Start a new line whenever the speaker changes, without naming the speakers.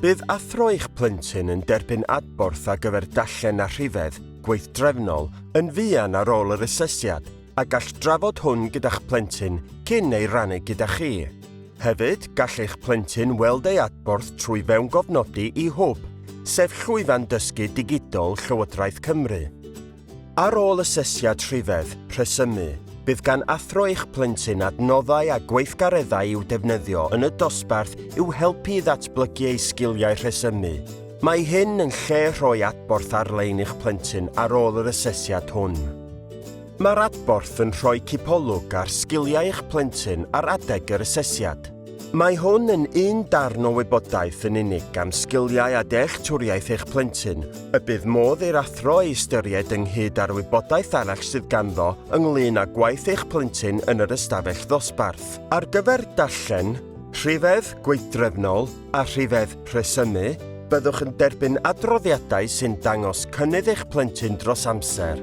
Bydd athro eich plentyn yn derbyn adborth ar gyfer dallen a rhifedd gweithdrefnol yn fuan ar ôl yr asesiad a gall drafod hwn gyda'ch plentyn cyn ei rannu gyda chi. Hefyd, gall eich plentyn weld ei adborth trwy fewn gofnodi i hwb, sef llwyfan dysgu digidol Llywodraeth Cymru. Ar ôl asesiad rhifedd, rhesymu, bydd gan athro eich plentyn adnoddau a gweithgareddau i'w defnyddio yn y dosbarth i'w helpu i ddatblygu ei sgiliau rhesymu. Mae hyn yn lle rhoi adborth ar-lein i'ch plentyn ar ôl yr asesiad hwn. Mae'r adborth yn rhoi cipolwg ar sgiliau eich plentyn ar adeg yr asesiad. Mae hwn yn un darn o wybodaeth yn unig am sgiliau a dealltwriaeth eich plentyn, y bydd modd i'r athro ei ystyried ynghyd â'r wybodaeth arall sydd ganddo ynglŷn â gwaith eich plentyn yn yr ystafell ddosbarth. Ar gyfer darllen, rhifedd gweithdrefnol a rhifedd rhesymu, byddwch yn derbyn adroddiadau sy'n dangos cynnydd eich plentyn dros amser.